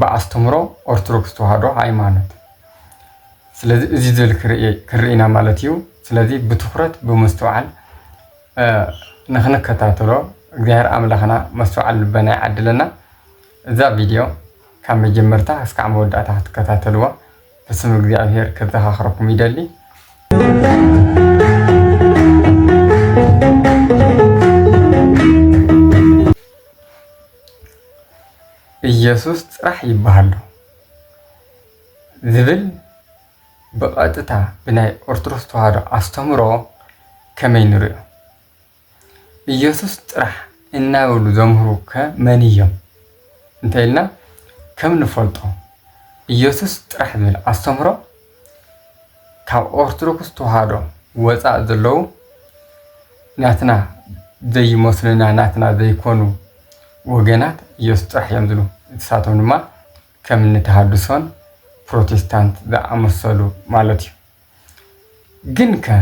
ብኣስተምህሮ ኦርቶዶክስ ተዋህዶ ሃይማኖት ስለዚ እዚ ዘል ክርኢና ማለት እዩ። ስለዚ ብትኩረት ብምስትውዓል ንክንከታተሎ እግዚኣብሔር ኣምላኽና መስተውዓል ልበና ይዓድለና። እዛ ቪድዮ ካብ መጀመርታ እስካዕ መወዳእታ ክትከታተልዋ ብስም እግዚኣብሔር ከዘኻኽረኩም ይደሊ። ኢየሱስ ጥራሕ ይበሃሎ ዝብል ብቐጥታ ብናይ ኦርቶዶክስ ተዋህዶ ኣስተምህሮ ከመይ ንሪኦ? ኢየሱስ ጥራሕ እናበሉ ዘምህሩ ከ መን እዮም? እንተኢልና ከም ንፈልጦ ኢየሱስ ጥራሕ ዝብል ኣስተምህሮ ካብ ኦርቶዶክስ ተዋህዶ ወፃእ ዘለዉ ናትና ዘይመስሉና ናትና ዘይኮኑ ወገናት ኢየሱስ ጥራሕ እዮም ዝብሉ ንሳቶም ድማ ከም እኒ ተሃድሶን ፕሮቴስታንት ዝኣመሰሉ ማለት እዩ ግን ከ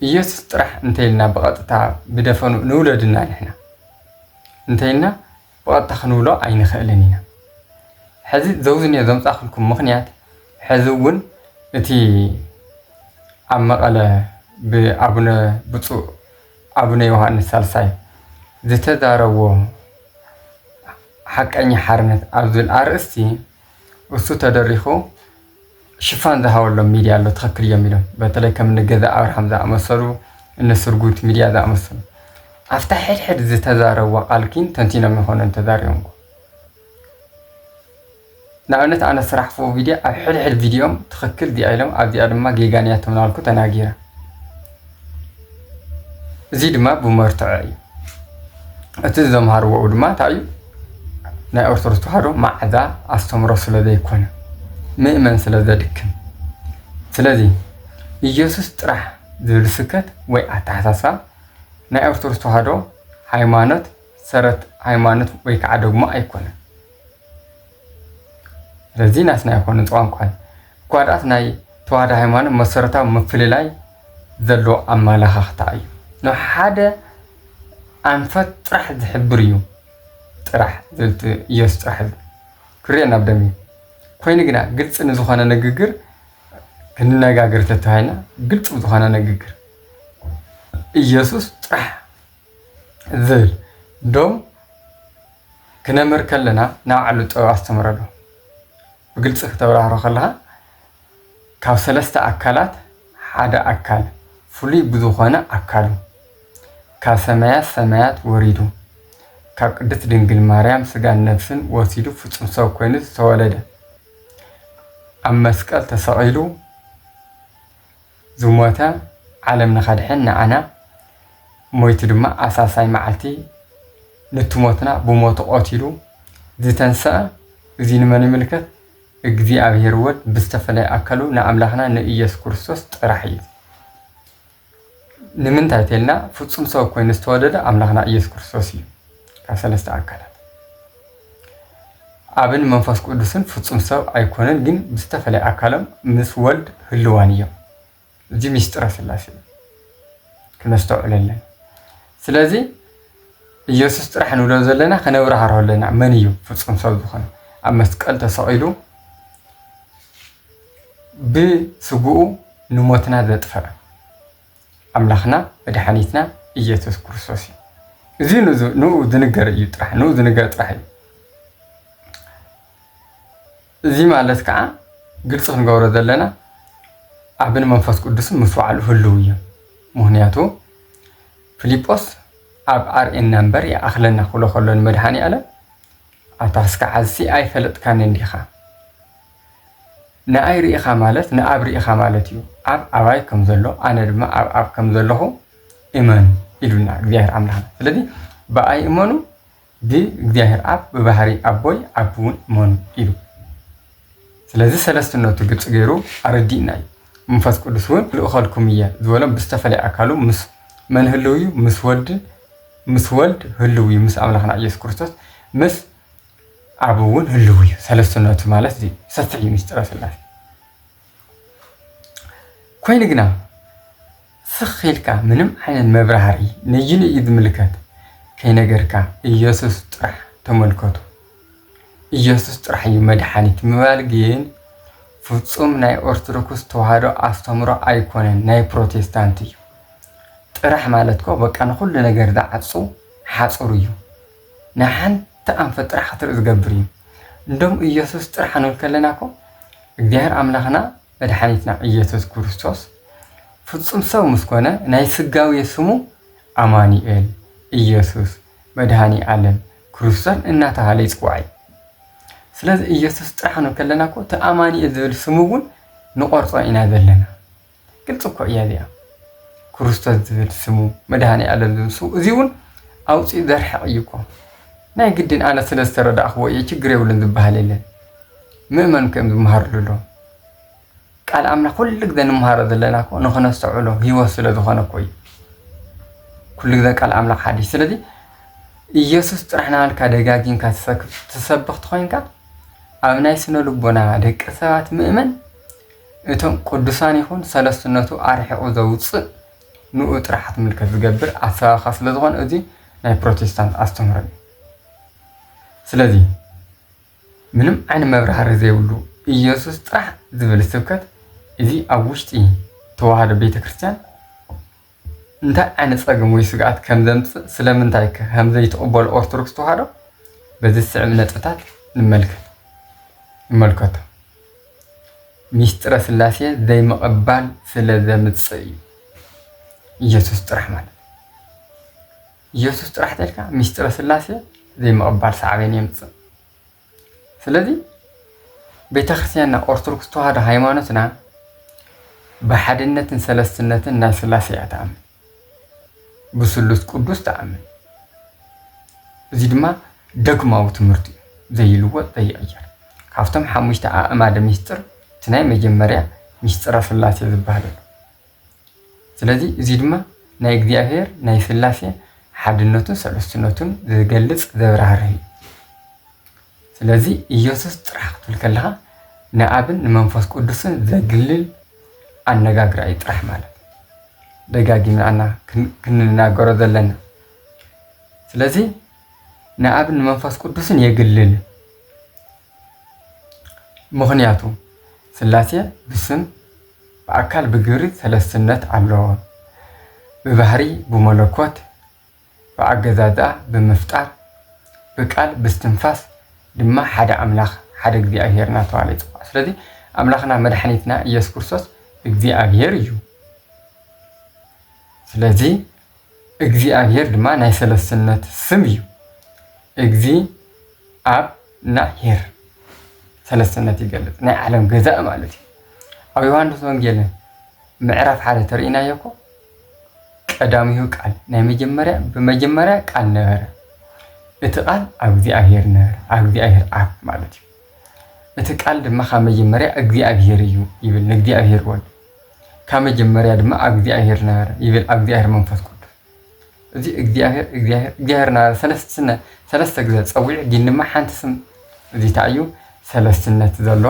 ኢየሱስ ጥራሕ እንተይልና ብቐጥታ ብደፈኑ ንውለድና ንሕና እንተይልና ዋጣ ክንብሎ ኣይንኽእልን ኢና። ሕዚ ዘውዝንዮ ዘምጻእክልኩም ምኽንያት ሕዚ እውን እቲ ኣብ መቐለ ብኣቡነ ብፁእ ኣቡነ ዮሃንስ ሳልሳይ ዝተዛረብዎ ሓቀኛ ሓርነት ኣብ ዝብል ኣርእስቲ እሱ ተደሪኹ ሽፋን ዝሃበሎም ሚድያ ኣሎ ትኽክል እዮም ኢሎም በተለይ ከም እኒ ገዛኢ ኣብርሃም ዝኣመሰሉ እኒ ስርጉት ሚድያ ዝኣመሰሉ ኣብታ ሕድሕድ ዝተዛረብዋ ቃል ግን ተንቲኖም ይኾኑን ተዛሪቦም ንኣብነት ኣነ ስራሕፎ ቪድዮ ኣብ ሕድሕድ ቪድዮም ትኽክል እዚኣ ኢሎም ኣብዚኣ ድማ ጌጋን እያ ተምናልኩ ተናጊራ እዚ ድማ ብመርትዖ እዩ እቲ ዘምሃርዎ ድማ እንታይ እዩ ናይ ኦርቶዶክስ ተዋህዶ ማዕዳ ኣስተምሮ ስለ ዘይኮነ ምእመን ስለ ዘድክም ስለዚ ኢየሱስ ጥራሕ ዝብል ስብከት ወይ ኣተሓሳስባ ናይ ኦርቶዶክስ ተዋህዶ ሃይማኖት ሰረት ሃይማኖት ወይ ከዓ ደግሞ ኣይኮነን። ስለዚ ናትና ኣይኮነ እቲ ቋንቋ እኳ ድኣስ ናይ ተዋህዶ ሃይማኖት መሰረታዊ ምፍልላይ ዘለዎ ኣመላኻኽታ እዩ ንሓደ ኣንፈት ጥራሕ ዝሕብር እዩ ጥራሕ ዝብልቲ ኢየሱስ ጥራሕ እዩ ክርኤና ኣብ ደም እዩ ኮይኑ ግና ግልፂ ንዝኾነ ንግግር ክንነጋገር ተተባሂልና ግልፂ ዝኾነ ንግግር ኢየሱስ ጥራሕ ዝብል ዶም ክነምህር ከለና ንባዕሉ ጥበብ ኣስተምረሉ። ብግልፂ ክተብራህሮ ከለኻ ካብ ሰለስተ ኣካላት ሓደ ኣካል ፍሉይ ብዝኾነ ኣካሉ ካብ ሰማያት ሰማያት ወሪዱ ካብ ቅድስት ድንግል ማርያም ስጋን ነፍስን ወሲዱ ፍፁም ሰብ ኮይኑ ዝተወለደ ኣብ መስቀል ተሰቒሉ ዝሞተ ዓለም ንኸድሕን ንዓና ሞይቱ ድማ ኣብ ሳልሳይ መዓልቲ ኑቲ ሞትና ብሞቱ ቐቲሉ ዝተንሰኣ እዙይ ንመን ይምልከት? እግዚኣብሔር ወልድ ብዝተፈለየ ኣካሉ ንኣምላኽና ንኢየሱስ ክርስቶስ ጥራሕ እዩ። ንምንታይ ተልና ፍጹም ሰብ ኮይኑ ዝተወለደ ኣምላኽና ኢየሱስ ክርስቶስ እዩ ካብ ሰለስተ ኣካላት ኣብን መንፈስ ቅዱስን ፍጹም ሰብ ኣይኮነን ግን ብዝተፈለየ ኣካሎም ምስ ወልድ ህልዋን እዮም እዚ ሚስጥረ ስላሴ እዩ ክነስተውዕሎ ኣለና ስለዚ ኢየሱስ ጥራሕ ንብሎ ዘለና ከነብራህርሆ ኣለና መን እዩ ፍጹም ሰብ ዝኾነ ኣብ መስቀል ተሰቒሉ ብስግኡ ንሞትና ዘጥፈዐ ኣምላኽና መድሓኒትና ኢየሱስ ክርስቶስ እዩ። እዚ ንኡ ዝንገር እዩ ጥራሕ ንኡ ዝንገር ጥራሕ እዩ። እዚ ማለት ከዓ ግልፂ ክንገብሮ ዘለና ኣብን መንፈስ ቅዱስን ምስ በዓሉ ህልው እዮም ምክንያቱ ፊልጶስ ኣብ ኣርእና እምበር ይኣኽለና ክብሎ ከሎ ንመድሃኒ ኣለም ኣብታ ስከ ዓዝሲ ኣይፈለጥካንን ዲኻ ንኣይ ርኢኻ ማለት ንኣብ ርኢኻ ማለት እዩ፣ ኣብ ኣባይ ከም ዘሎ ኣነ ድማ ኣብ ኣብ ከም ዘለኹ እመኑ ኢሉና እግዚኣብሔር ኣምላኽና። ስለዚ ብኣይ እመኑ ብእግዚኣብሔር ኣብ ብባህሪ ኣቦይ ኣብ እውን እመኑ ኢሉ ስለዚ ሰለስትነቱ ግልፂ ገይሩ ኣረዲእና እዩ። መንፈስ ቅዱስ እውን ልእኸልኩም እየ ዝበሎም ብዝተፈለየ ኣካሉ ምስ መን ህልው እዩ? ምስ ወልድን ምስ ወልድ ህልው እዩ ምስ ኣምላኽና ኢየሱስ ክርስቶስ ምስ ኣብ እውን ህልው እዩ። ሰለስትነቱ ማለት እዚ ሰፊሕ እዩ ምስጢረ ስላሴ። ኮይኑ ግና ስኽ ኢልካ ምንም ዓይነት መብራህሪ ንዩ ንዩ ዝምልከት ከይነገርካ ኢየሱስ ጥራሕ ተመልከቱ። ኢየሱስ ጥራሕ እዩ መድሓኒት ምባል ግን ፍጹም ናይ ኦርቶዶክስ ተዋህዶ ኣስተምሮ ኣይኮነን፣ ናይ ፕሮቴስታንት እዩ። ጥራሕ ማለት ኮ በቃ ንኹሉ ነገር ዝዓጹ ሓጹር እዩ። ናይ ሓንቲ ኣንፈት ጥራሕ ክትርኢ ዝገብር እዩ እንዶም እየሱስ ጥራሕ ክንብል ከለና እኮ እግዚኣብሔር ኣምላክና መድሓኒትና እየሱስ ክርስቶስ ፍፁም ሰብ ምስ ኮነ ናይ ስጋዊ ስሙ ኣማኑኤል እየሱስ መድሃኒ ኣለም ክርስቶስ እናተባሃለ ይፅዋዕ እዩ ስለዚ እየሱስ ጥራሕ ክንብል ከለና እኮ እቲ ኣማኑኤል ዝብል ስሙ እውን ንቆርፆ ኢና ዘለና ግልፂ እኮ እያ እዚኣ ክርስቶስ ዝብል ስሙ መድሃኒኣለም ዝብል ስሙ እዚ እውን ኣውፂኡ ዘርሕቕ እዩ እኮ ናይ ግድን ኣነ ስለ ዝተረዳእኽዎ እየ ችግር የብሉን ዝበሃል የለን ምእመን ከም ዝመሃርሉ ኣሎ ቃል ኣምላኽ ኩሉ ግዘ ንመሃሮ ዘለና እኮ ንክነስተውዕሎ ህይወት ስለ ዝኾነ እኮ እዩ ኩሉ ግዘ ቃል ኣምላኽ ሓዲሽ ስለዚ ኢየሱስ ጥራሕ ናሃልካ ደጋጊምካ ትሰብኽ ትኾይንካ ኣብ ናይ ስነ ልቦና ደቂ ሰባት ምእመን እቶም ቅዱሳን ይኹን ሰለስትነቱ ኣርሒቑ ዘውጽእ ንኡ ጥራሕ ትምልከት ዝገብር ኣሰባብኻ ስለ ዝኾነ እዚ ናይ ፕሮቴስታንት ኣስተምህሮ እዩ። ስለዚ ምንም ዓይነ መብራህሪ ዘይብሉ ኢየሱስ ጥራሕ ዝብል ስብከት እዚ ኣብ ውሽጢ ተዋህዶ ቤተ ክርስቲያን እንታይ ዓይነት ጸገም ወይ ስግኣት ከም ዘምጽእ ስለምንታይ ከም ዘይትቕበሉ ኦርቶዶክስ ተዋህዶ በዚ ዝስዕብ ነጥብታት ንመልከት ንመልከቶ ሚስጥረ ስላሴ ዘይምቕባል ስለ ዘምጽእ እዩ ኢየሱስ ጥራሕ ማለት ኢየሱስ ጥራሕ ተልካ ሚስጥረ ስላሴ ዘይምቕባል ሳዕቤን የምጽእ ስለዚ ቤተክርስቲያንና ኦርቶዶክስ ተዋህዶ ሃይማኖትና ብሓድነትን ሰለስትነትን ናይ ስላሴ እያ ትኣምን ብስሉስ ቅዱስ ትኣምን እዚ ድማ ደግማዊ ትምህርቲ እዩ ዘይልወጥ ዘይቕየር ካብቶም ሓሙሽተ ኣእማደ ሚስጥር እቲ ናይ መጀመርያ ሚስጥረ ስላሴ ዝበሃል ኣሎ ስለዚ እዚ ድማ ናይ እግዚኣብሔር ናይ ስላሴ ሓድነቱን ሰለስትነቱን ዝገልጽ ዘብራህርህ እዩ። ስለዚ ኢየሱስ ጥራሕ ክትብል ከለኻ ንኣብን ንመንፈስ ቅዱስን ዘግልል ኣነጋግራ እዩ ጥራሕ ማለት ደጋጊምና ክንናገሮ ዘለና ስለዚ ንኣብ ንመንፈስ ቅዱስን የግልል ምክንያቱ ስላሴ ብስም ብኣካል ብግብሪ ሰለስትነት ኣለዎ። ብባህሪ ብመለኮት፣ ብኣገዛዝኣ፣ ብምፍጣር፣ ብቃል፣ ብስትንፋስ ድማ ሓደ ኣምላኽ፣ ሓደ እግዚኣብሔር እናተባህለ ይጽዋዕ። ስለዚ ኣምላኽና መድሓኒትና ኢየሱስ ክርስቶስ እግዚኣብሔር እዩ። ስለዚ እግዚኣብሔር ድማ ናይ ሰለስትነት ስም እዩ። እግዚ ኣብ ና ሄር ሰለስትነት ይገልፅ ናይ ዓለም ገዛእ ማለት እዩ። ኣብ ዮሃንስ ወንጌል ምዕራፍ ሓደ ተርእናዮ እኮ ቀዳሚሁ ቃል ናይ መጀመርያ ብመጀመርያ ቃል ነበረ እቲ ቃል ኣብ እግዚኣብሔር ነበረ ኣብ እግዚኣብሔር ኣብ ማለት እዩ እቲ ቃል ድማ ካብ መጀመርያ እግዚኣብሔር እዩ ይብል ንእግዚኣብሔር ወልድ ካብ መጀመርያ ድማ ኣብ እግዚኣብሔር ነበረ ይብል ኣብ እግዚኣብሔር መንፈስ ቅዱስ እዚ እግዚኣብሔር እግዚኣብሔር እግዚኣብሔር ነበረ ሰለስትነ ሰለስተ ግዘ ፀዊዑ ግን ድማ ሓንቲ ስም እዚ እንታይ እዩ ሰለስትነት ዘሎ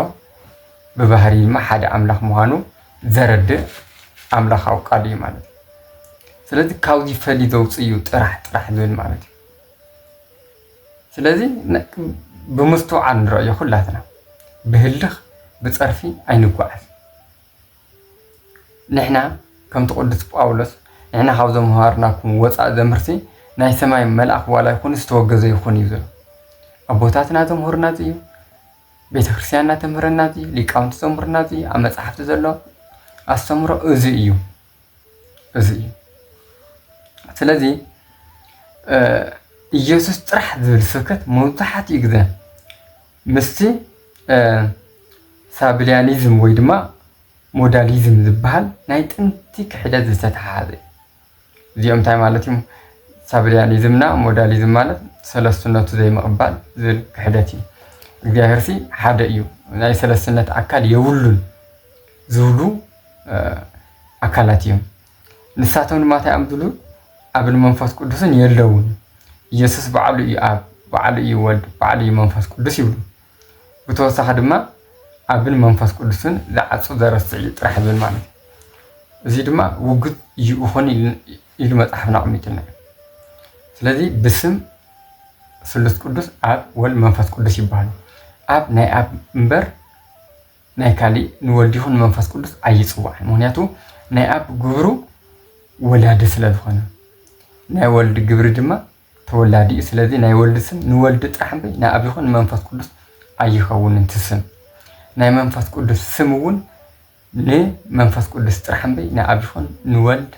ብባህሪ ድማ ሓደ ኣምላኽ ምዃኑ ዘረድእ ኣምላኻዊ ቃል እዩ ማለት እዩ ስለዚ ካብዚ ፈልዩ ዘውፅእ እዩ ጥራሕ ጥራሕ ዝብል ማለት እዩ ስለዚ ብምስትውዓል ንረእዮ ኩላትና ብህልኽ ብፀርፊ ኣይንጓዓዝ ንሕና ከምቲ ቅዱስ ጳውሎስ ንሕና ካብ ዘምሃርናኩም ወፃእ ዘምህርሲ ናይ ሰማይ መልኣኽ ዋላ ይኹን ዝተወገዘ ይኹን እዩ ዝብል ኣቦታትና ዘምህሩና እዚ እዩ ቤተ ክርስቲያንና ተምህረና እዚ ሊቃውንቲ ዘምህሩና እዚ ኣብ መፅሓፍቲ ዘሎ ኣስተምሮ እዚ እዩ እዚ እዩ ስለዚ ኢየሱስ ጥራሕ ዝብል ስብከት መብዛሕትኡ ግዘ ምስቲ ሳብሊያኒዝም ወይ ድማ ሞዳሊዝም ዝበሃል ናይ ጥንቲ ክሕደት ዝተተሓሓዘ እዩ እዚኦም እንታይ ማለት እዩ ሳብሊያኒዝምና ሞዳሊዝም ማለት ሰለስትነቱ ዘይምቕባል ዝብል ክሕደት እዩ እግዚኣብሔር ሲ ሓደ እዩ ናይ ሰለስትነት ኣካል የብሉን ዝብሉ ኣካላት እዮም ንሳቶም ድማ እንታይ እዮም ዝብሉ ኣብን መንፈስ ቅዱስን የለውን ኢየሱስ በዓሉ እዩ ኣብ በዓሉ እዩ ወልድ በዓሉ እዩ መንፈስ ቅዱስ ይብሉ ብተወሳኺ ድማ ኣብን መንፈስ ቅዱስን ዝዓፁ ዘረስዕ እዩ ጥራሕ ዝብል ማለት እዩ እዚ ድማ ውግት እዩ ይኹን ኢሉ መፅሓፍና ኣቕሚጡና ስለዚ ብስም ስሉስ ቅዱስ ኣብ ወልድ መንፈስ ቅዱስ ይበሃሉ ኣብ ናይ ኣብ እምበር ናይ ካሊእ ንወልድ ይኹን ንመንፈስ ቅዱስ ኣይጽዋዕን ምክንያቱ ናይ ኣብ ግብሩ ወላዲ ስለ ዝኾነ ናይ ወልድ ግብሪ ድማ ተወላዲ እዩ ስለዚ ናይ ወልድ ስም ንወልድ ጥራሕ እምበይ ንኣብ ይኹን ንመንፈስ ቅዱስ ኣይኸውንን ትስም ናይ መንፈስ ቅዱስ ስም እውን ንመንፈስ ቅዱስ ጥራሕ እምበይ ንኣብ ይኹን ንወልድ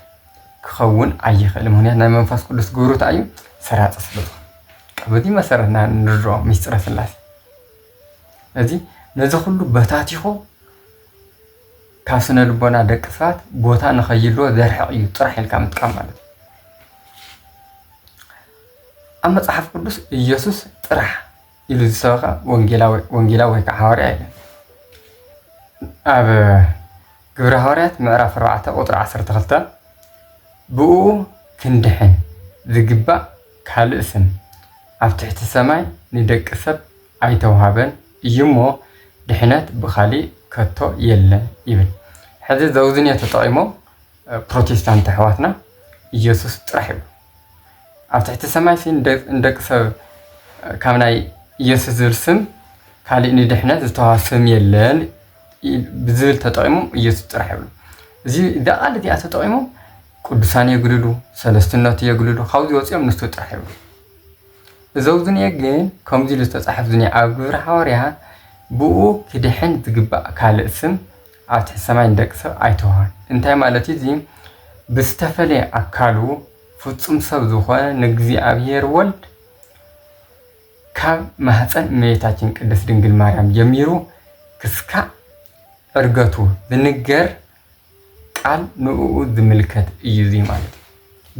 ክኸውን ኣይኽእል ምክንያት ናይ መንፈስ ቅዱስ ግብሩታ እዩ ሰራፂ ስለ ዝኾነ በዚ መሰረት ንርድኦ ሚስጥረ ስላሴ እዚ ነዚ ኩሉ በታቲኹ ካብ ስነ ልቦና ደቂ ሰባት ቦታ ንኸይልዎ ዘርሕቕ እዩ ጥራሕ ኢልካ ምጥቃም ማለት እዩ ኣብ መፅሓፍ ቅዱስ ኢየሱስ ጥራሕ ኢሉ ዝሰበኸ ወንጌላዊ ወንጌላዊ ወይ ከዓ ሃዋርያ የለን ኣብ ግብረ ሃዋርያት ምዕራፍ 4 ቁጥሪ 12 ብኡ ክንድሕን ዝግባእ ካልእ ስም ኣብ ትሕቲ ሰማይ ንደቂ ሰብ ኣይተውሃበን እዩ እሞ ድሕነት ብኻሊእ ከቶ የለን ይብል ሕዚ ዘውዝንዮ ተጠቂሞም ፕሮቴስታንት ኣሕዋትና ኢየሱስ ጥራሕ ይብሉ ኣብ ትሕቲ ሰማይሲ ንደቂ ሰብ ካብ ናይ ኢየሱስ ዝብል ስም ካሊእ ንድሕነት ዝተውሃብ ስም የለን ብዝብል ተጠቒሞም ኢየሱስ ጥራሕ ይብሉ። እዚ እዛ ቃል እዚኣ ተጠቒሞም ቅዱሳን የግልሉ፣ ሰለስትነቱ የግልሉ፣ ካብዚ ወፂኦም ንሱ ጥራሕ ይብሉ። እዚ ኣብዚ ዝኒአ ግን ከምዚ ኢሉ ዝተፃሕፍ ዝኒአ ኣብ ግብረ ሓዋርያት ብኡ ክድሕን ዝግባእ ካልእ ስም ኣብ ትሕቲ ሰማይ ንደቂ ሰብ ኣይተውሃን። እንታይ ማለት እዩ? እዚ ብዝተፈለየ ኣካሉ ፍፁም ሰብ ዝኾነ ንእግዚኣብሔር ወልድ ካብ ማህጸን እመቤታችን ቅድስት ድንግል ማርያም ጀሚሩ ክስካዕ ዕርገቱ ዝንገር ቃል ንእኡ ዝምልከት እዩ እዚ ማለት እዩ።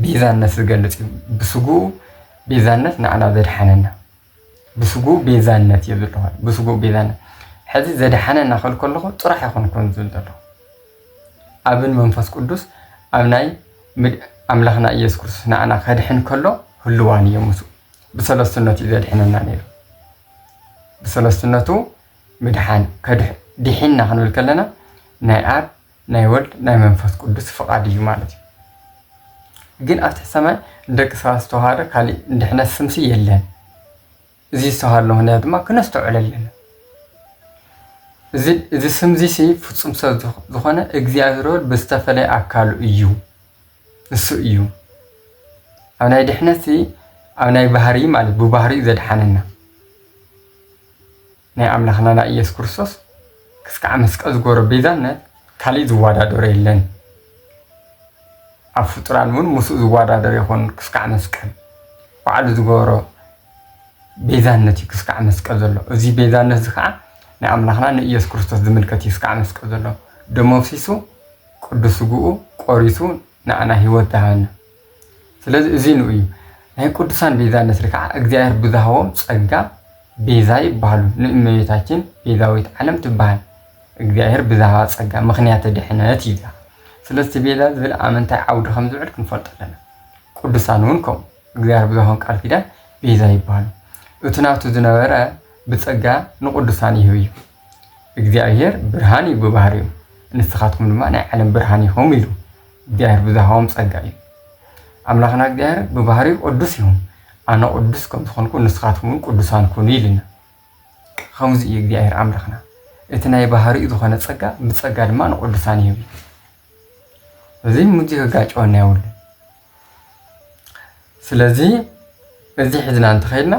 ቤዛነት ዝገልጽ እዩ። ብስጉኡ ቤዛነት ንዓና ዘድሓነና ብስጉኡ ቤዛነት እዩ ዝለኹ ብስጉኡ ቤዛነት ሕዚ ዘድሓነና ክብል ከለኹ ጥራሕ ኣይኮንኩን ዝብል ዘለኹ ኣብን መንፈስ ቅዱስ ኣብ ናይ ኣምላኽና ኢየሱስ ክርስቶስ ንዓና ከድሕን ከሎ ህልዋን እዮም ምስኡ ብሰለስትነቱ እዩ ዘድሕነና ነይሩ። ብሰለስትነቱ ምድሓን ዲሒንና ክንብል ከለና ናይ ኣብ ናይ ወልድ ናይ መንፈስ ቅዱስ ፍቓድ እዩ ማለት እዩ። ግን ኣብቲ ሰማይ ንደቂ ሰባት ዝተዋሃደ ካሊእ ንድሕነት ስምሲ የለን። እዚ ዝተዋሃለ ምክንያት ድማ ክነስተውዕል ኣለና። እዚ ስምዚ ፍፁም ሰብ ዝኾነ እግዚኣብሔር ወልድ ብዝተፈለየ ኣካሉ እዩ። እሱ እዩ ኣብ ናይ ድሕነትሲ ኣብ ናይ ባህሪ ማለት ብባህሪኡ ዘድሓነና ናይ ኣምላኽና ናይ ኢየሱስ ክርስቶስ ክስካዕ መስቀል ዝገበሮ ቤዛነት ካልእ ዝወዳደሮ የለን ኣብ ፍጡራን እውን ምስኡ ዝወዳደር ይኹን ክስካዕ መስቀል ባዕሉ ዝገበሮ ቤዛነት እዩ ክስካዕ መስቀል ዘሎ እዚ ቤዛነት እዚ ከዓ ንኣምላኽና ንኢየሱስ ክርስቶስ ዝምልከት እዩ ክስካዕ መስቀል ዘሎ ደሞ ኣፍሲሱ ቅዱስ ስግኡ ቆሪሱ ንዓና ህይወት ደሃበና ስለዚ እዚ ንኡ እዩ ናይ ቅዱሳን ቤዛነት ርክዓ እግዚኣብሔር ብዝሃቦም ጸጋ ቤዛ ይበሃሉ ንእመቤታችን ቤዛዊት ዓለም ትበሃል እግዚኣብሔር ብዝሃባ ጸጋ ምክንያተ ድሕነት እዩ ዝላ ስለዚ ቤዛ ዝብል ኣመንታይ ዓውዲ ከም ዝውዕል ክንፈልጦ ኣለና ቅዱሳን እውን ከምኡ እግዚኣብሔር ብዝሃቦም ቃል ኪዳን ቤዛ ይበሃሉ እቲ ናቱ ዝነበረ ብጸጋ ንቅዱሳን ይህብ እዩ እግዚኣብሄር ብርሃን እዩ ብባህሪኡ፣ ንስኻትኩም ድማ ናይ ዓለም ብርሃን ኢኹም ኢሉ። እግዚኣብሄር ብዝሃቦም ጸጋ እዩ። ኣምላኽና እግዚኣብሄር ብባህሪኡ ቅዱስ እዩ። ኣነ ቅዱስ ከም ዝኾንኩ ንስኻትኩም እውን ቅዱሳን ኩኑ ኢሉና። ከምዚ እዩ እግዚኣብሄር ኣምላኽና። እቲ ናይ ባህሪኡ ዝኾነ ጸጋ ብጸጋ ድማ ንቅዱሳን ይህብ እዩ። እዚ ምዚ ክጋጨወና የብሉን። ስለዚ እዚ ሒዝና እንተኸይድና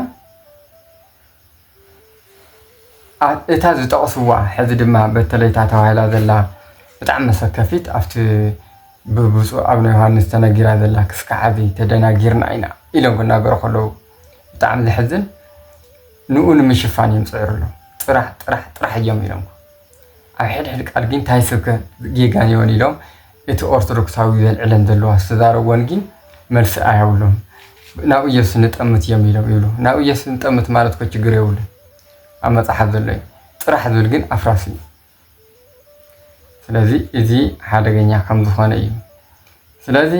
እታ ዝጠቕስዋ ሕዚ ድማ በተለይ እታ ተባሂላ ዘላ ብጣዕሚ መሰከፊት ኣብቲ ብብፁእ ኣቡነ ዮሃንስ ተነጊራ ዘላ ክስካዕ ሕዚ ተደናጊርና ኢና ኢሎም ክናገሩ ከለዉ ብጣዕሚ ዘሕዝን ንኡ ንምሽፋን እዮም ዝፅዕሩ ኣለዉ ጥራሕ ጥራሕ ጥራሕ እዮም ኢሎም ኣብ ሕድሕድ ቃል ግን እንታይ ስብከ ጌጋ ነይወን ኢሎም እቲ ኦርቶዶክሳዊ ዘልዕለን ዘለዋ ዝተዛረብወን ጊን መልሲ ኣያብሉን ናብ እየሱስ ንጠምት እየም ኢሎም ይብሉ ናብ እየሱስ ንጠምት ማለት እኮ ችግር የብሉን ኣብ መጽሓፍ ዘሎ እዩ ጥራሕ ዝብል ግን ኣፍራሲ እዩ ስለዚ እዚ ሓደገኛ ከም ዝኾነ እዩ ስለዚ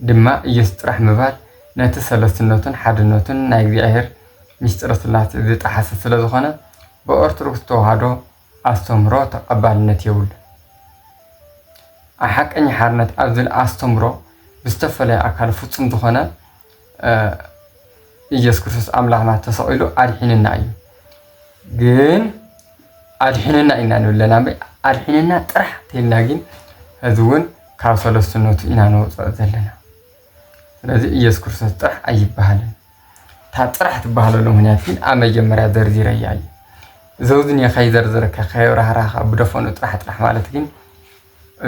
ድማ እየሱስ ጥራሕ ምባል ነቲ ሰለስትነቱን ሓድነቱን ናይ እግዚኣብሔር ምስጢረ ስላሴ ዝጠሓሰ ስለ ዝኾነ ብኦርቶዶክስ ተዋህዶ ኣስተምህሮ ተቐባልነት የብሉን። ኣብ ሓቀኛ ሓርነት ኣብ ዝብል ኣስተምህሮ ብዝተፈለየ ኣካሉ ፍጹም ዝኾነ ኢየሱስ ክርስቶስ ኣምላኽና ተሰቒሉ ኣድሒንና እዩ። ግን ኣድሒንና ኢና ንብለና እምበይ ኣድሒንና ጥራሕ ተልና ግን ሕዚ እውን ካብ ሰለስትነቱ ኢና ንወፅኦ ዘለና። ስለዚ ኢየሱስ ክርስቶስ ጥራሕ ኣይበሃልን እታ ጥራሕ ትበሃለሉ ምክንያት ግን ኣብ መጀመርያ ዘርዚረያ እዩ ዘውዝን ከይዘርዝረካ ከየብራህራካ ብደፈኑ ጥራሕ ጥራሕ ማለት ግን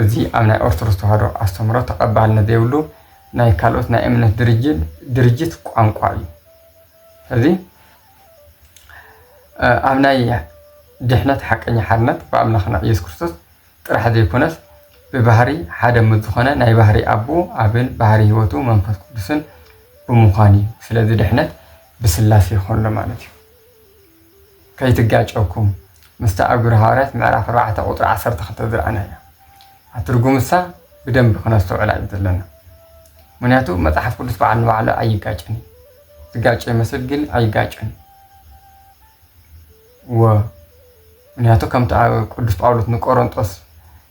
እዚ ኣብ ናይ ኦርቶዶክስ ተዋህዶ ኣስተምሮ ተቐባልነት ዘይብሉ ናይ ካልኦት ናይ እምነት ድርጅት ድርጅት ቋንቋ እዩ እዚ ኣብ ናይ ድሕነት ሓቀኛ ሓርነት ብኣምላኽና ኢየሱስ ክርስቶስ ጥራሕ ዘይኮነስ ብባህሪ ሓደ ምስ ዝኾነ ናይ ባህሪ ኣቡ ኣብን ባህሪ ህይወቱ መንፈስ ቅዱስን ብምዃን እዩ ስለዚ ድሕነት ብስላሴ ከሎ ማለት እዩ ከይትጋጨኩም ምስቲ ኣብ ግብረ ሃዋርያት ምዕራፍ ኣርባዕተ ቁጥሪ ዓሰርተ ክልተ ዝረኣናዮ ኣትርጉምሳ ብደንቢ ክነስተውዕላ እዩ ዘለና ምክንያቱ መፅሓፍ ቅዱስ በዓል ንባዕሉ ኣይጋጭን እዩ ዝጋጨ ይመስል ግን ኣይጋጭን እዩ እወ፣ ምኽንያቱ ከምቲ ቅዱስ ጳውሎስ ንቆሮንጦስ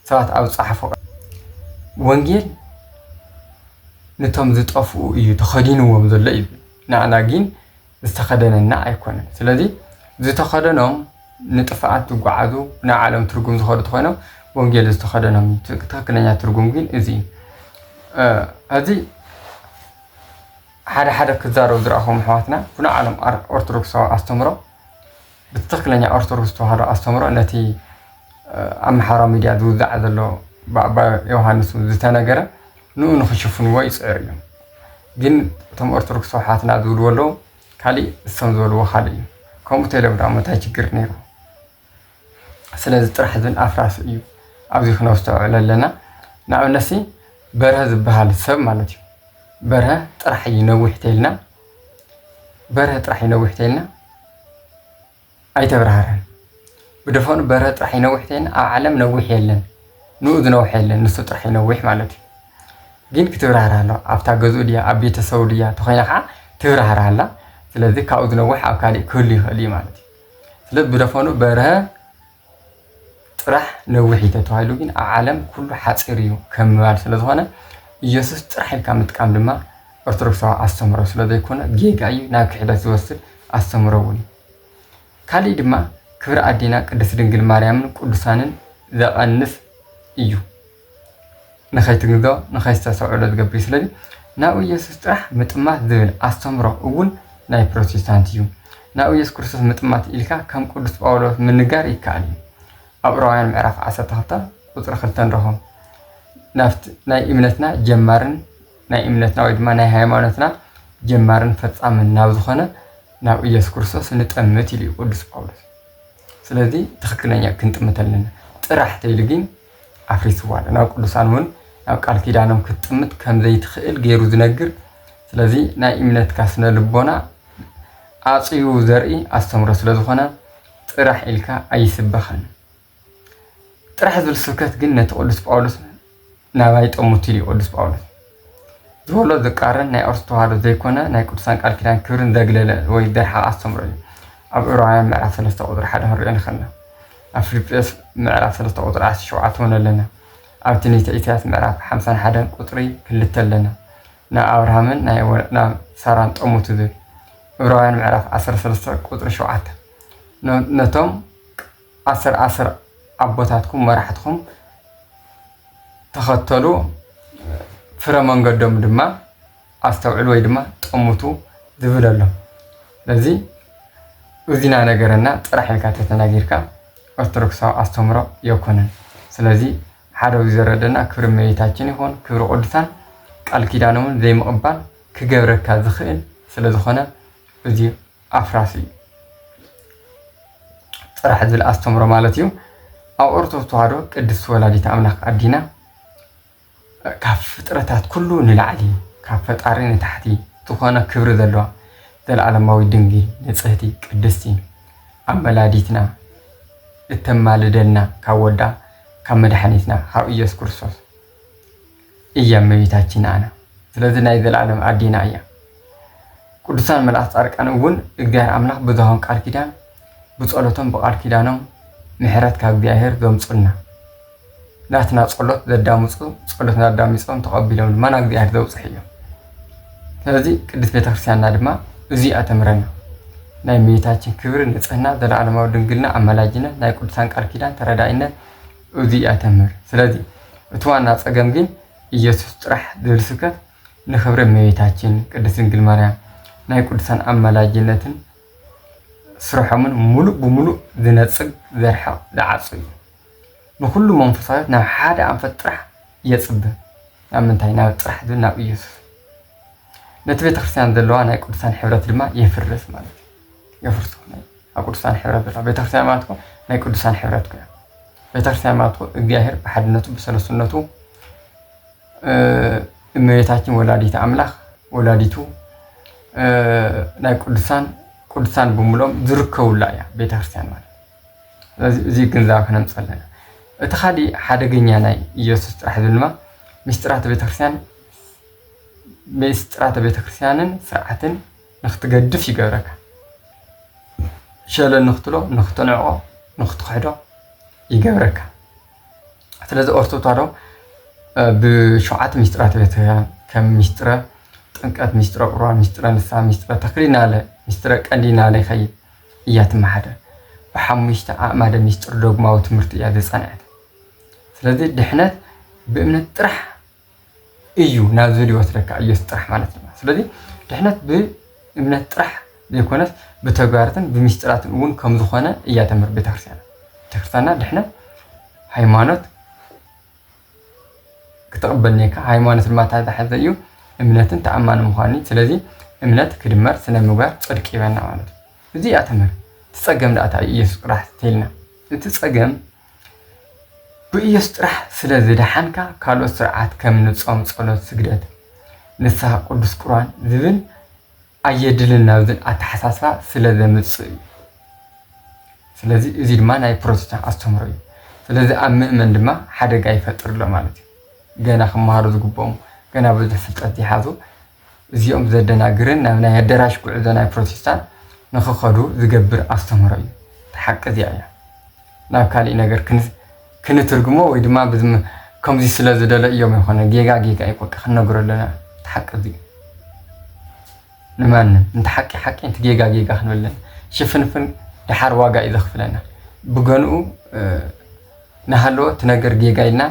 ሰባት ኣብ ዝጸሓፎ ቃል፣ ወንጌል ነቶም ዝጠፍኡ እዩ ተኸዲንዎም ዘሎ ይብል፣ ንኣና ግን ዝተኸደነና ኣይኮነን። ስለዚ ዝተኸደኖም ንጥፍኣት ዝጓዓዙ ናይ ዓለም ትርጉም ዝኸዱ ተኾይኖም ወንጌል ዝተኸደኖም እዩ። ትክክለኛ ትርጉም ግን እዚ እዩ። እዚ ሓደ ሓደ ክዛረቡ ዝረኣኹም ኣሕዋትና ብናይ ዓለም ኦርቶዶክሳዊ ኣስተምህሮ ብትኽክለኛ ኦርቶዶክስ ተዋህዶ ኣስተምሮ ነቲ ኣብ ማሕበራዊ ሚድያ ዝውዛዕ ዘሎ ብኣባ ዮሃንስ ዝተነገረ ንኡ ንክሽፍንዎ ይፅዕሩ እዮም ግን እቶም ኦርቶዶክስ ተዋሓትና ዝብልዎ ኣለዉ ካሊእ እሶም ዝበልዎ ካሊእ እዩ ከምኡ ተይሎም ዳኣሞ እንታይ ችግር ነይሩ ስለዚ ጥራሕ ዝን ኣፍራስ እዩ ኣብዚ ክነስተውዕሎ ኣለና ንኣብነት ሲ በርሀ ዝበሃል ሰብ ማለት እዩ በርሀ ጥራሕ እዩ ነዊሕ ተይልና በርሀ ጥራሕ እዩ ነዊሕ ተይልና ኣይተብራህረን ብደፈኑ በርሀ ጥራሕ እዩ ነዊሕ ተይልና ኣብ ዓለም ነዊሕ የለን ንኡ ዝነውሐ የለን ንሱ ጥራሕ እዩ ነዊሕ ማለት እዩ ግን ክትብራህር ኣሎ ኣብታ ገዝኡ ድያ ኣብ ቤተሰቡ ድያ ተኮይና ከዓ ትብራህር ኣላ ስለዚ ካብኡ ዝነውሕ ኣብ ካሊእ ክህሉ ይኽእል እዩ ማለት እዩ ስለዚ ብደፈኑ በርሀ ጥራሕ ነዊሕ እዩ ተተባሂሉ ግን ኣብ ዓለም ኩሉ ሓፂር እዩ ከም ምባል ስለዝኾነ ኢየሱስ ጥራሕ ኢልካ ምጥቃም ድማ ኦርቶዶክሳዊ ኣስተምህሮ ስለዘይኮነ ጌጋ እዩ ናብ ክሕደት ዝወስድ ኣስተምህሮ እውን እዩ ካሊእ ድማ ክብሪ ኣዴና ቅድስት ድንግል ማርያምን ቅዱሳንን ዘቐንስ እዩ ንኸይትንግዶ ንኸይስተሰውዕሎ ዝገብር እዩ ስለዚ ናብ ኢየሱስ ጥራሕ ምጥማት ዝብል ኣስተምሮ እውን ናይ ፕሮቴስታንት እዩ ናብ ኢየሱስ ክርስቶስ ምጥማት ኢልካ ከም ቅዱስ ጳውሎስ ምንጋር ይከኣል እዩ ኣብ ዕብራውያን ምዕራፍ 12 ቁፅሪ 2 ንረኽቦ ናብቲ ናይ እምነትና ጀማርን ናይ እምነትና ወይ ድማ ናይ ሃይማኖትና ጀማርን ፈጻምን ናብ ዝኾነ ናብ ኢየሱስ ክርስቶስ ንጠምት ኢሉ እዩ ቅዱስ ጳውሎስ ስለዚ ትክክለኛ ክንጥምት ኣለና ጥራሕ ተይሉ ጊን ኣፍሪስዋ ኣሎ ናብ ቅዱሳን ውን ናብ ቃል ኪዳኖም ክትጥምት ከምዘይትክእል ገይሩ ዝነግር ስለዚ ናይ እምነትካ ስነ ልቦና ኣጽዩ ዘርኢ ኣስተምሮ ስለ ዝኾነ ጥራሕ ኢልካ ኣይስበኸን ጥራሕ ዝብል ስብከት ግን ነቲ ቅዱስ ጳውሎስ ናባይ ጠሙቲ እዩ ቅዱስ ጳውሎስ ዝበሎ ዝቃረን ናይ ኦርቶዶክስ ተዋህዶ ዘይኮነ ናይ ቅዱሳን ቃል ኪዳን ክብርን ዘግለለ ወይ ዘርሓቐ ኣስተምሮ እዩ። ኣብ ዕብራውያን ምዕራፍ ሰለስተ ቁጽሪ ሓደ ክንሪኦ ንኽእልና። ኣብ ፊልጵስዩስ ምዕራፍ ሰለስተ ቁጽሪ ዓሰርተ ሸውዓተ እውን ኣለና። ኣብ ትንቢተ ኢሳያስ ምዕራፍ ሓምሳን ሓደን ቁጽሪ ክልተ ኣለና። ናብ ኣብርሃምን ናይ ናብ ሳራን ጠሙቱ ዝብል ዕብራውያን ምዕራፍ ዓሰርተ ሰለስተ ቁጽሪ ሸውዓተ ነቶም ኣሰር ኣሰር ኣቦታትኩም መራሕትኩም ተኸተሉ ፍረ መንገዶም ድማ ኣስተውዕሉ ወይ ድማ ጠሙቱ ዝብል ኣሎ ስለዚ እዚና ነገረና ጥራሕ ኢልካ ተተናጊርካ ኦርቶዶክሳዊ ኣስተምሮ የኮነን ስለዚ ሓደ እዚ ዘረደና ክብሪ እመቤታችን ይኹን ክብሪ ቅዱሳን ቃል ኪዳኖምን ዘይምቕባል ክገብረካ ዝኽእል ስለ ዝኾነ እዚ ኣፍራሲ ጥራሕ ዝብል ኣስተምሮ ማለት እዩ ኣብ ኦርቶዶክስ ተዋህዶ ቅድስቲ ወላዲት ኣምላክ ኣዲና ካብ ፍጥረታት ኩሉ ንላዕሊ ካብ ፈጣሪ ንታሕቲ ዝኾነ ክብሪ ዘለዋ ዘለዓለማዊ ድንግል ንፅህቲ ቅድስቲ ኣመላዲትና እተማልደልና ካብ ወዳ ካብ መድሓኒትና ካብ ኢየሱስ ክርስቶስ እያ እመቤታችን ንኣና ስለዚ ናይ ዘልኣለም ኣዴና እያ ቅዱሳን መልኣክ ጻርቃን እውን እግዚኣብሔር ኣምላክ ብዝሃቦም ቃል ኪዳን ብጸሎቶም ብቃል ኪዳኖም ምሕረት ካብ እግዚኣብሔር ዘምጹልና ናትና ጸሎት ዘዳምጹ ጸሎትና ኣዳሚጾም ተቐቢሎም ድማ ናብ እግዚኣብሔር ዘብጽሑ እዮም ስለዚ ቅድስት ቤተክርስቲያንና ድማ እዚ ኣተምረና ናይ እመቤታችን ክብሪ ንጽህና ዘለዓለማዊ ድንግልና ኣማላጅነት ናይ ቅዱሳን ቃል ኪዳን ተረዳኢነት እዙይ እያ ተምህር ስለዚ እቲ ዋና ፀገም ግን እየሱስ ጥራሕ ዝብል ስብከት ንክብሪ እመቤታችን ቅድስት ድንግል ማርያም ናይ ቅዱሳን ኣማላጅነትን ስርሖምን ሙሉእ ብሙሉእ ዝነፅግ ዘርሕቕ ዝዓፁ እዩ ንኩሉ መንፈሳዊት ናብ ሓደ ኣንፈት ጥራሕ የፅብ ናብ ምንታይ ናብ ጥራሕ ዝብል ናብ እየሱስ ነቲ ቤተክርስትያን ዘለዋ ናይ ቅዱሳን ሕብረት ድማ የፍርስ ማለት እዩ የፍርሱ ኣብ ቅዱሳን ሕብረት በታ ቤተክርስቲያን ማለት እኮ ናይ ቅዱሳን ሕብረት እኮ ቤተክርስቲያን ማለት እኮ እግዚአብሔር ብሓድነቱ ብሰለስነቱ እመቤታችን ወላዲተ ኣምላኽ ወላዲቱ ናይ ቅዱሳን ቅዱሳን ብምሎም ዝርከቡላ እያ ቤተክርስቲያን ማለት ስለዚ እዚ ግንዛብ ክነምፅ ኣለና እቲ ካሊእ ሓደገኛ ናይ ኢየሱስ ጥራሕ ዝብል ድማ ምስጢራተ ቤተክርስቲያን ምስጢራተ ቤተክርስቲያንን ስርዓትን ንኽትገድፍ ይገብረካ። ሸለል ንኽትብሎ፣ ንኽትንዕቆ፣ ንኽትኽሕዶ ይገብረካ። ስለዚ ኦርቶዶክስ ተዋህዶ ብሸውዓተ ሚስጥራት ቤተ ክርስቲያን ከም ሚስጥረ ጥምቀት፣ ሚስጥረ ቁርባን፣ ሚስጥረ ንስሓ፣ ሚስጥረ ተክሊል ናለ፣ ሚስጥረ ቀንዲ ናለ ይኸይድ እያ ትመሓደር። ብሓሙሽተ ኣእማደ ሚስጥር ዶግማዊ ትምህርቲ እያ ዘፃንዐት። ስለዚ ድሕነት ብእምነት ጥራሕ እዩ ናብዚ ዝወስደካ ኢየሱስ ጥራሕ ማለት እዩ ስለዚ ድሕነት ብእምነት ጥራሕ ዘይኮነስ ብተግባራትን ብምስጢራትን እውን ከም ዝኾነ እያ ተምህር ቤተክርስቲያና ቤተክርስቲያና ድሕነት ሃይማኖት ክትቕበል ኔካ ሃይማኖት ድማ ታተሓዘ እዩ እምነትን ተኣማኒ ምዃኑ ስለዚ እምነት ክድመር ስነ ምግባር ፅድቂ ይበና ማለት እዩ እዚ እያ ተምህር እቲ ፀገም ዳእታ ኢየሱስ ቅራሕ ተልና እቲ ፀገም ብኢየሱስ ጥራሕ ስለ ዝደሓንካ ካልኦት ስርዓት ከም ንፆም ፀሎት ስግደት ንስሃ ቅዱስ ቁርባን ዝብል ኣየድልን ናብ ዝብል ኣተሓሳስባ ስለ ዘምፅእ እዩ። ስለዚ እዚ ድማ ናይ ፕሮቴስታንት ኣስተምህሮ እዩ። ስለዚ ኣብ ምእመን ድማ ሓደጋ ይፈጥር ኣሎ ማለት እዩ። ገና ክመሃሩ ዝግብኦም ገና ብዙሕ ፍልጠት ዘይሓዙ እዚኦም ዘደናግርን ናብ ናይ ኣደራሽ ጉዕዞ ናይ ፕሮቴስታንት ንክኸዱ ዝገብር ኣስተምህሮ እዩ። እታ ሓቂ እዚኣ እያ። ናብ ካሊእ ነገር ክንትርግሞ ወይ ድማ ከምዚ ስለ ዝደለ እዮም ኣይኮነ ጌጋ ጌጋ እዩ በቃ ክንነግሮ ኣለና እቲ ሓቂ እዚ ንማንም እንቲ ሓቂ ሓቂ እንቲ ጌጋ ጌጋ ክንብል ኣለና ሽፍንፍን ድሓር ዋጋ እዩ ዘኽፍለና ብገንኡ ናሃለወ እቲ ነገር ጌጋ ኢልና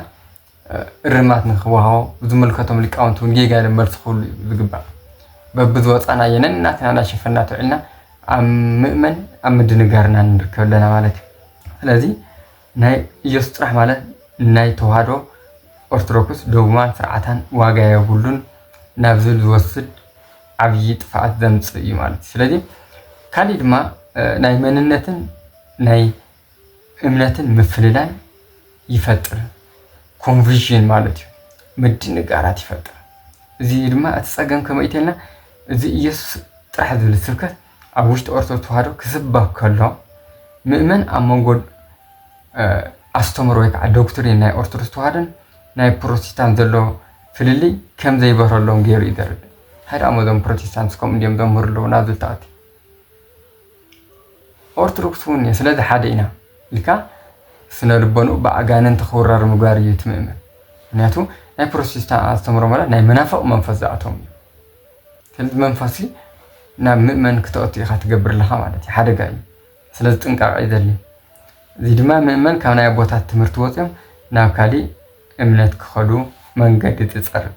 እርማት ንክወሃቦ ዝምልከቶም ሊቃውንቲ እውን ጌጋ ኢሎም መልሲ ክህሉ እዩ ዝግባእ። በብዝወፃእናዮ ነናትና እናሸፈንና ተውዒልና ኣብ ምእመን ኣብ ምድንጋር ኢና ንርከብ ኣለና ማለት እዩ። ስለዚ ናይ ኢየሱስ ጥራሕ ማለት ናይ ተዋህዶ ኦርቶዶክስ ዶግማን ስርዓታን ዋጋ የብሉን ናብ ዝብል ዝወስድ ዓብዪ ጥፍኣት ዘምፅእ እዩ ማለት እዩ። ስለዚ ካሊእ ድማ ናይ መንነትን ናይ እምነትን ምፍልላይ ይፈጥር፣ ኮንቪዥን ማለት እዩ፣ ምድንጋራት ይፈጥር። እዚ እዩ ድማ እቲ ጸገም ከመይ ኢልና እዚ ኢየሱስ ጥራሕ ዝብል ስብከት ኣብ ውሽጢ ኦርቶዶክስ ተዋህዶ ክስበክ ከሎ ምእመን ኣብ መንጎ ኣስተምሮ ወይ ከዓ ዶክትሪን ናይ ኦርቶዶክስ ተዋህዶን ናይ ፕሮቴስታንት ዘሎ ፍልልይ ከም ዘይበረሎም ገይሩ እዩ ዘርድእ። ሃይዳ እዞም ፕሮቴስታንት ከምኡ እንዲዮም ዘምህሩ ኣለዉ ናብ ዝልታኣት ኦርቶዶክስ እውን እየ ስለዚ ሓደ ኢና ኢልካ ስነ ልቦንኡ ብኣጋንንቲ ክውረር ምግባር እዩ እቲ ምእመን ምክንያቱ ናይ ፕሮቴስታን ኣስተምሮ ማለት ናይ መናፍቅ መንፈስ ዝኣቶም እዩ ስለዚ መንፈሲ ናብ ምእመን ክተእቱ ኢካ ትገብር ኣለካ ማለት እዩ ሓደጋ እዩ ስለዚ ጥንቃቀ እዩ ዘድልዩ እዚ ድማ ምእመን ካብ ናይ ኣቦታት ትምህርቲ ወፅዮም ናብ ካሊእ እምነት ክኸዱ መንገዲ ትፀርግ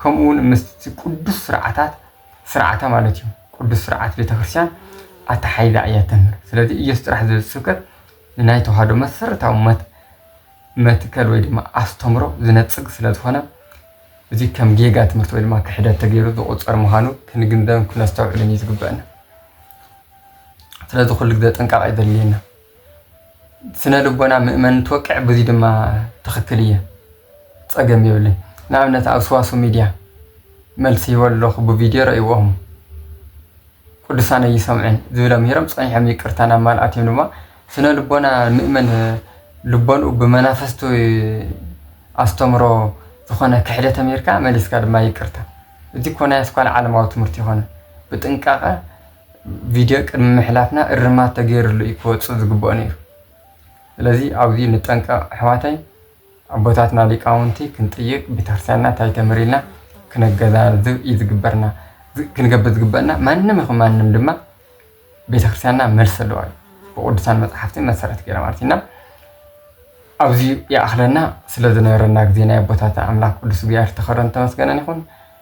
ከምኡ እውን ምስቲ ቅዱስ ስርዓታት ስርዓታ ማለት እዩ ቅዱስ ስርዓት ቤተክርስቲያን ኣተሓሒዛ እያ እተምህር። ስለዚ ኢየሱስ ጥራሕ ዝብል ስብከት ንናይ ተዋህዶ መሰረታዊ መትከል ወይ ድማ ኣስተምሮ ዝነጽግ ስለ ዝኾነ እዚ ከም ጌጋ ትምህርቲ ወይ ድማ ክሕደት ተገይሩ ዝቑጸር ምዃኑ ክንግንዘብን ክነስተውዕልን እዩ ዝግበአና። ስለዚ ኩሉ ግዜ ጥንቃቐ እዩ ዘድልየና። ስነ ልቦና ምእመን እንትወቅዕ ብዙይ ድማ ትኽክል እየ ፀገም የብለይ ንኣብነት ኣብ ስዋሱ ሚድያ መልሲ ሂቦ ኣለኹ ብቪድዮ ረእይዎ እሞ ቅዱሳን ኣይሰምዑን ዝብለ ምሂሮም ፀኒሖም ይቅርታ ናብ ማል ኣትዮም ድማ ስነ ልቦና ምእመን ልቦንኡ ብመናፍስቱ ኣስተምሮ ዝኾነ ክሕደት ኣሜሪካ መሊስካ ድማ ይቅርታ እዚ እኮ ናይ ኣስኳል ዓለማዊ ትምህርቲ ይኮነ ብጥንቃቐ ቪድዮ ቅድሚ ምሕላፍና እርማት ተገይርሉ እዩ ክወፅእ ዝግብኦ ነይሩ። ስለዚ ኣብዚ ንጠንቀቕ ኣሕዋተይ፣ ኣቦታትና ሊቃውንቲ ክንጥይቅ፣ ቤተክርስትያንና ታይ ተምህር ኢልና ክነገናዝብ እዩ ዝግበርና ክንገብር ዝግበእና። ማንም ይኹን ማንም ድማ ቤተክርስትያንና መልሲ ኣለዋ እዩ ብቅዱሳን መፅሓፍቲ መሰረት ገይራ ማለት እና ኣብዚ ይኣኽለና ስለዝነበረና ግዜ ናይ ኣቦታትና ኣምላክ ቅዱስ እግዚኣብሔር ተኸረን ተመስገነን ይኹን።